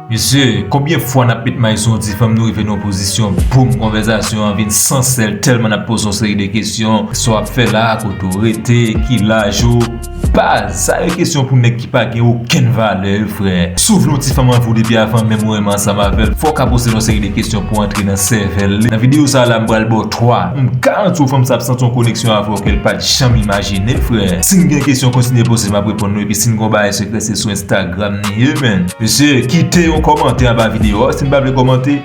Mesye, konbyen fwa nap met may sou yon ti fanm nou rive nan yon pozisyon boom konvèzasyon an vin san sèl tèlman nap poze yon seri de kesyon, sa wap fè la, kote w rete, ki laj ou, baz, sa yo kesyon pou nèg ki pa gen okenn valè wi frè, si w vle yon ti fanm anvi w depi avan menm ou renmen ansanm avè l fò w ka poze l yon seri de kesyon pou antre nan sèvèl li, nan videyo sa la m pral ba w 3, m garanti w fanm sa ap santi yon koneksyon avè w ke l pat janm imajine frè, si n gen kesyon kontinye poze map reponn nou epi si n gen yon bagay sekrè se sou. Instagram ni ye menn. Mesye kite yon komante anba video a si nou pa vle komante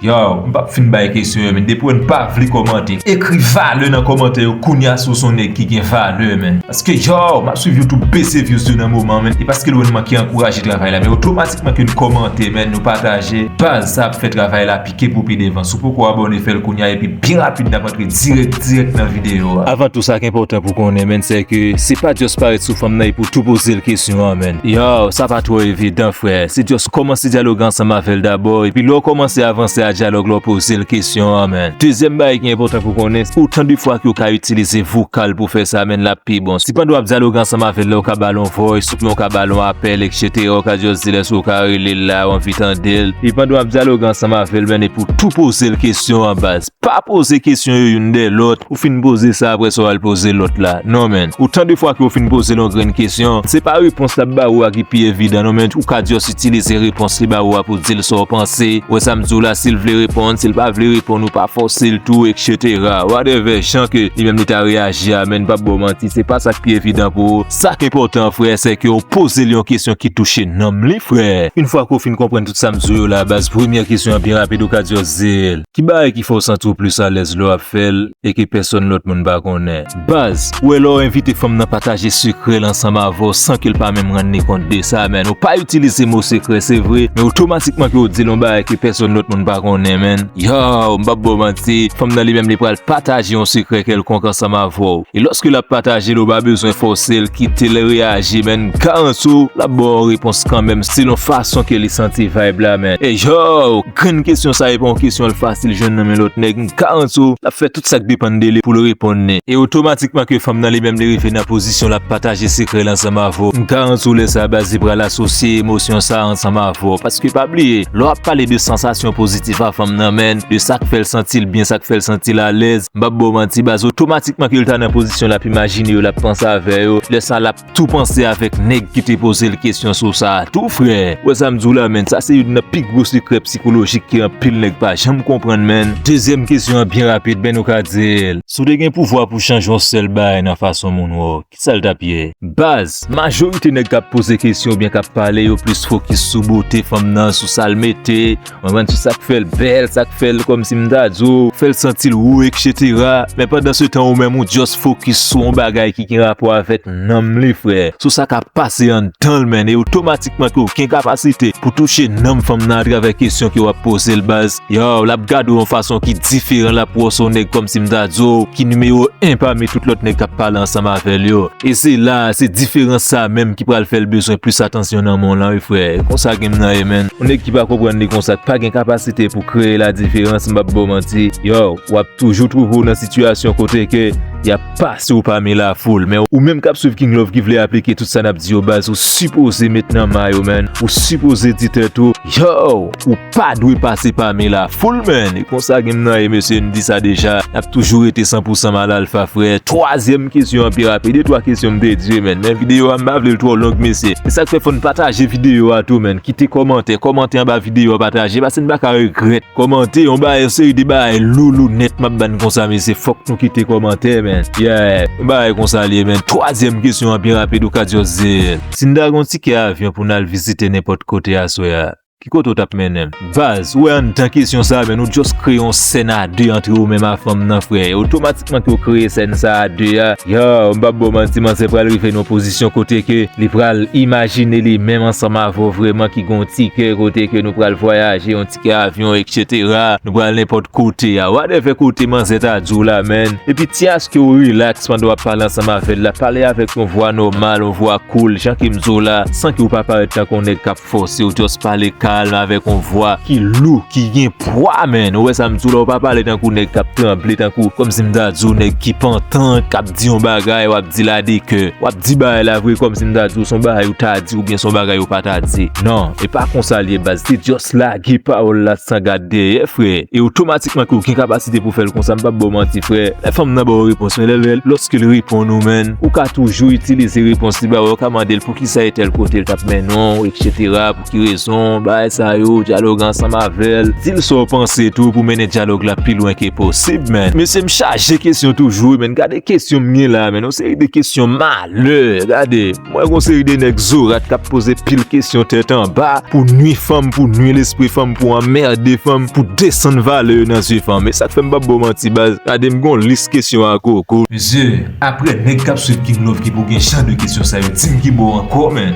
yow m pap fin bay kesyon yo menn depi nou pa vle komante ekri valè nan komante yo kounya si w son nèg ki gen valè menn paske yow map swiv you tube bese vyouz yo nan moman menn e paske lwen manke ankouraje travay la men otomatikman ke nou komante menn nou pataje baz sa ap fè travay la pi. ke pou pi devan. Si w poko abone fè l kounya epi byen rapid nap antre dirèk dirèk nan videyo a. Avan tou sak enpòtan pou konnen menn sè ke se pa just parèt sou fanm nan epi w tou poze l kesyon an menn. Yow sa pa twò evidan frè, se just kòmanse dyaloge ansanm avè l dabò epi lè w kòmanse avanse a dyalòg la w poze l kesyon an menn. Dezyèm bagay ki enpòtan pou konnen se otan de fwa ke w ka itilize vokal pou fè sa menn lap pi bon. Si pandan wap dyaloge ansanm avè l la ou ka ba l yon voice, Pou yon ka ba l yon apèl eksetera ou ka just di l èske ou ka rele l la ou anvi tande l. E pandan w ap dyaloge ansanm avè l men epi w tou poze l kesyon an baz. Pa poze kesyon yo youn dèyè lòt, ou fin poze sa aprè sa w al poze lòt la. Non men. Otan de fwa ke ou fin poze l yon grenn kesyon, se pa repons l ap ba ou a ki pi evidan non men ou ka just itilize repons li ba ou a pou w di l sa w panse. Ou wè sa m di w la si l vle reponn, si l pa vle reponn ou pa fòse l tou eksetera. Whatever jan ke li menm li ta reyaji a men m p ap ba w manti se pa sa k pi evidan pou ou. Sa k enpòtan frè se ke w poze l yon kesyon ki touche nanm li frè. Une fwa ke w fin konprann tout sa m di w yo la baz premyè kesyon an pi rapid ou ka di yo se ki bagay ki fè w santi w plis alèz lè w ap fè l e ke pèsòn lòt moun pa konnen. Baz, ou wè lè w envite fanm nan pataje sekrè l ansanm avè w san ke l pa menm rann li kont de sa menn ou pa itilize mo sekrè se vre men otomatikman ke w di l yon bagay ke pèsòn lòt moun pa konnen menn yow m p ap ba w manti fanm nan li menm li pral pataje yon sekrè kèlkonk ansanm avè w. E loske lap pataje l ou pa bezwen fòse l kite l reyaji menn Karanto lap ba w repons kanmenm selon fason ke li santi vayb la menn e yow grenn kesyon sa e pa yon kesyon l fasil jwenn nan men lòt nèg Karanto lap fè tout sak depann de li pou l reponn li e otomatikman ke fanm nan li menm li rive nan pozisyon lap pataje sekrè l ansanm avè w Karanto lè sa baz li pral asosye emosyon sa ansanm avè w paske pa bliye lè w ap pale de sansasyon pozitif a fanm nan menn de sak fè l santi l byen sak fè l santi l alèz M pap baw manti baz otomatikman ke l ta nan pozisyon lap imajine yo lap panse avè yo lè sa lap tou panse avèk nèg ki te poze l kesyon sou sa a tou frè ou wè sa m di w la menn sa se youn nan pi gwo sekrè psikolojik ke anpil nèg pa janm konprann menn. Dezyèm kesyon an byen rapid men nou ka di l. Si w te gen pouvwa pou w chanje yon sèl bagay nan fason moun wè w ok. Sa l t ap ye? Baz, majorite nèg k ap poze kesyon oubyen k ap pale yo plis fokis sou bote fanm nan, sou sa l mete, ou konprann, sou sa k fè l bèl, sa k fè l kòmsi m ta di w, fè l santi l wou eksetera, men pandansetan ou menm ou just fokis sou yon bagay ki gen rapò avèk nanm li frè, sou sa k ap pase anndan l menn e otomatikman ke w gen kapasite pou touche nanm fanm nan atravè kesyon ke w ap poze l baz. Yow lap gadew yon fason ki diferan lap wè w se yon nèg kòmsi m ta di w ki nimewo 1 pami tout lòt nèg kap pale ansanm avèl yo e se la se diferans sa menm ki pral fèl bezwen plis atansyon nan men w lan wi frè e konsa game nan ye menn. Yon nèg ki pa konprann li konsa ki pa gen kapasite pou kreye la diferans m pap baw manti yow wap toujou twouve w nan sitiyasyon kote ke yap pase w pami la foul men ou menm kap swiv King Love ki vle aplike tout sa nap di yo baz ou sipoze met nan may ou menn ou sipoze di tèt ou yow ou Pa dwe pase pami la foul menn e konsa gem nan ye mesye n di sa deja nap toujou rete san pou san mal alfa frè twazyèm kesyon an pi rapid e twa kesyon m te di menn men video a m pa vlel twò long mesye se sak fè fòn pataje video a tou menn kite kòmantè kòmante anba video a pataje pase n paka regrèt kòmante yon bagay yon seri de bagay lou lou nèt map bann konsa mesye fòk nou kite kòmantè menn yeah yon bagay konsa liye menn twazyèm kesyon an pi rapid ou ka just dil si n ta gon tikè avyon pou nal vizite nenpòt kote aswè a. Ki kote ou tap mennen l. Vaz, ou wè andan kesyon sa men nou just kreye yon sèn a 2 antre ou menm a fanm nan frè e otomatikman ke ou kreye sèn sa a 2 a yow m pap baw manti manzè pral rive nan pozisyon kote ke li pral imajine li menm ansanm avè w vrèman ki gen yon ti kè kote ke nou pral vwayaje yon ti kè avyon etc nou pral nenpòt kote a wadèvè kote manzè ta di w la menn epi ti aske ou rilaks pandan wap pale ansanm avè l la pale avèk yon vwa nòmal yon vwa cool jan ke m di w la san ke ou pa parèt tankou yon nèg kap Fosew just pale kalm avèk yon vwa ki lou, ki gen pwa man, ou wè sam diw la ou pa pale tankou nèg kap tranble tankou kòmsi m ta diw nèg ki pantan kap di yon bagay wap dil a de kè, wap di bagay la vre kòmsi m ta diw son bagay ou ta di oubyen son bagay ou pa ta di nan e pa konsal ye baz te just lage pawòl la san gad dèyè frè e otomatikman ke ou gen kapasite pou fèl konsa m pap baw manti frè lè fanm nan baw repons men lè lòskel reponn ou man ou ka toujou itilize repons li ba ou ka mandel pou. Ki sa e tèl kote l tap mennen w eksetera pou ki rezon bagay sa yo dyaloge ansanm avè l di l sa w panse tou pou mennen dyalog la pi lwen ke posib menn mesye m chaje kesyon toujou wi menn gade kesyon m gen la menn yon seri de kesyon malè gade m wè gon seri de nèg zorat kap poze pil kesyon tèt anba pou nwi fanm pou nwi lespri fanm pou anmerde fanm pou desann valè yo nan zye fanm e sak fè m pap ba w manti baz gade m gon lis kesyon a gogo mesye. Aprè nèg kap swiv king loky pou gen jan de kesyon sa yo dim ki bò ankò men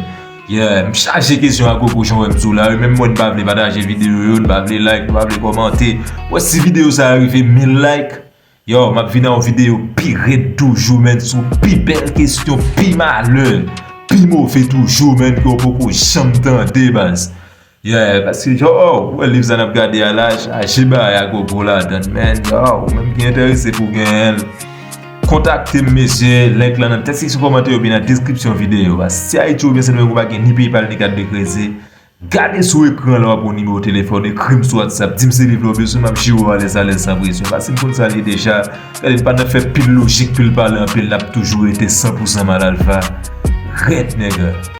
yeah m chaje kesyon ak koko jan wè m sou la yo menm mwen n pa vle pataje video yo n pa vle like nou pa vle kòmante bon si video sa rive 1000 like yow map vin a yon video pi rèd toujou menn sou pi bèl kesyon pi malè pi move toujou menn ke w poko janm tande baz. Yeah paske jan ou wè live sa nap gade a la chaje bagay a gogo ladann menn yow ou menm ki enterese pou genyenl kontaktem mesye link lan nan tèt seksyon kòmantè oubyen nan deskripsyon videyo a si ayiti oubyen sendomeng ou pa gen ni paypal ni kat de kredi gade sou ekran la wap wè yon nimewo telefòn ekrim sou whatsapp dim se liv la ou bezwen map jere w alèz alèz san presyon paske m konn sal ye deja gade m pa nan fè pil lojik pil pale anpil nap toujou rete san pousan mal alfa rèd nègè.